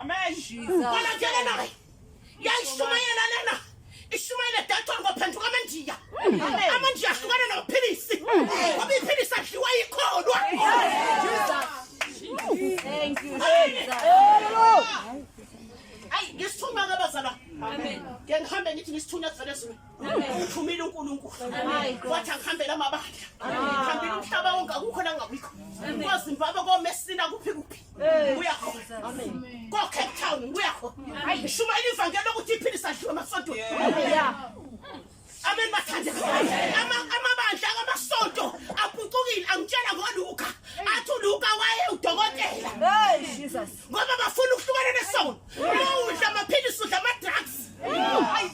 Amen. Ngicela ngitshele naye. Yayishumayela lena. Ishumayela dathwa ngophenduka amandiya. Amandiya ahlukana nophilisi. Ngoba iphilisi adliwa yikholwa. Thank you. Ayi ngisithuma ke bazala. Amen. Ke ngihambe ngithi ngisithuna kuvele zulu. Uphumile uNkulunkulu. Wathi angihambela amabandla. Ngihambile umhlaba wonke akukho la ngabikho. Kwazi impaba komesina kuphi kuphi. Buya kho. Amen. Go Cape Town, buya kho. Hayi shuma ilivangelo lokuthi iphilisa dliwa masonto. Yeah. Amen bathande. Ama amabandla kamasonto apucukile angitshela ngoLuka. Athi uLuka waye udokotela. Hey Jesus. Ngoba bafuna ukuhlukana nesono. Udla amaphilisi udla ama drugs. Hayi.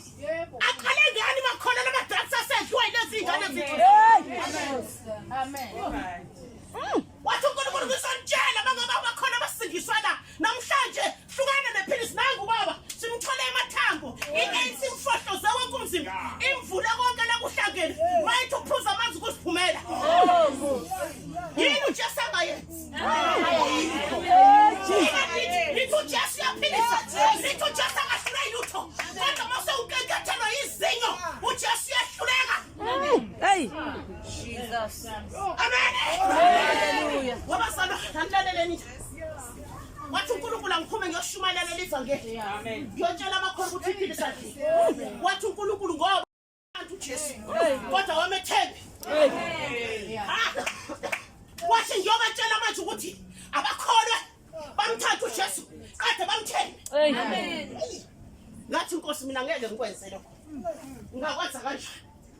Aqale ngani makhona lama drugs asedliwa ilezi ingane zethu. Amen. Amen. wathi unkulunkulu ngizonitshela bangoba bakhona abasindiswa la namhlanje hlukana nephilisi nangu baba simthole emathambo i-anc mfohloze wonke umzimba imvule konke lakuhlangene mayithi uphuza amanzi kusiphumela yini ujesu angayenzi nithi ujesu uyaphilisa nithi ujesu angahlula ilutho kodwa mase ukenkethelwa yizinyo ujesu uyahluleka Hey! wathi unkulunkulu angiphume ngiyoshumayela lelivangeli ngiyotshela amakhola ukuthi iphile sadlile wathi unkulunkulu ngoba abantu ujesu kodwa wamethembi wathi ngiyobatshela manje ukuthi abakholwe bamthathe ujesu kade bamthembi ngathi nkosi mina ngeke ngikwenzele ngakwenza kanjani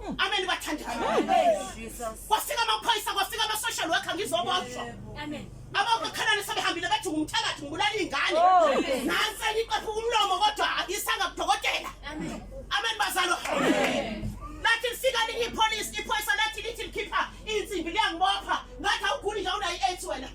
Hmm. Amen bathandana. Kwafika amaphoyisa kwafika ama social worker ngizoboshwa. Amen. Abakukhalani sebehambile bethi ngumthakathi ngibulala ingane. Oh. Nansi ngiqepha umlomo kodwa isanga kudokotela. Amen. Amen bazalo. Amen. Lathi lifika linye ipolice iphoyisa lathi lithi likhipha insimbi liyangibopha ngathi awuguli nje unayi-AIDS wena.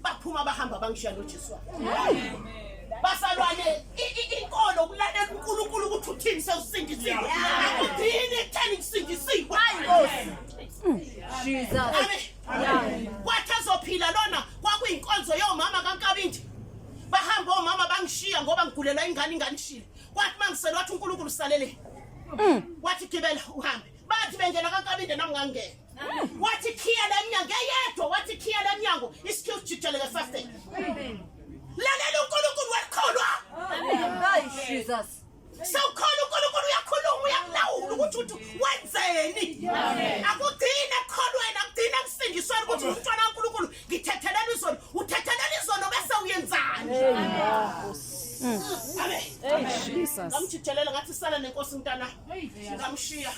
baphuma bahamba bangishiya nojesu wayo basalwane inkolo ukulalela unkulunkulu ukuthi uthini sewusindisiwe akudini ekutheni kusindisiwe hayi nkosi kwathi ezophila lona kwakuyinkonzo yomama kankabindi bahamba omama bangishiya ngoba ngigulelwa ingane ingane ishile kwathi mangisele wathi uNkulunkulu salele mm. wathi gibela uhambe bathi bengena kankabinde nami ngangena mm. wathi khiya lemnyango eyedwa wathi khiya lemnyango isikhiwu jijeleke fasting lalela uNkulunkulu wekholwa amen jesus Sawukhola uNkulunkulu uyakhuluma uyakulawula ukuthi uthi wenzeni. Akugcini ekukholweni akugcini ekusindisweni ukuthi umntwana kaNkulunkulu ngithethelela izono uthethelela izono bese uyenzani. Amen. Jesus. Ngamjitshelela ngathi sala nenkosi mntana. Ngamshiya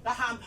ngahamba.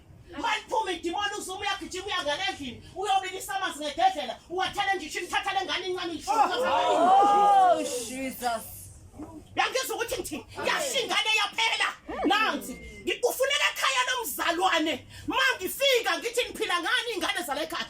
Maliphuma idimoni uZuma uyagijima uyangena endlini uyobilisa amanzi ngededlela uwathele nje ishini thatha lengane incane Oh Jesus. Yangizwa ukuthi ngithi yashingane yaphela. Nansi ngifuneka ekhaya lomzalwane. Mangifika ngithi niphila ngani ingane zala ekhaya.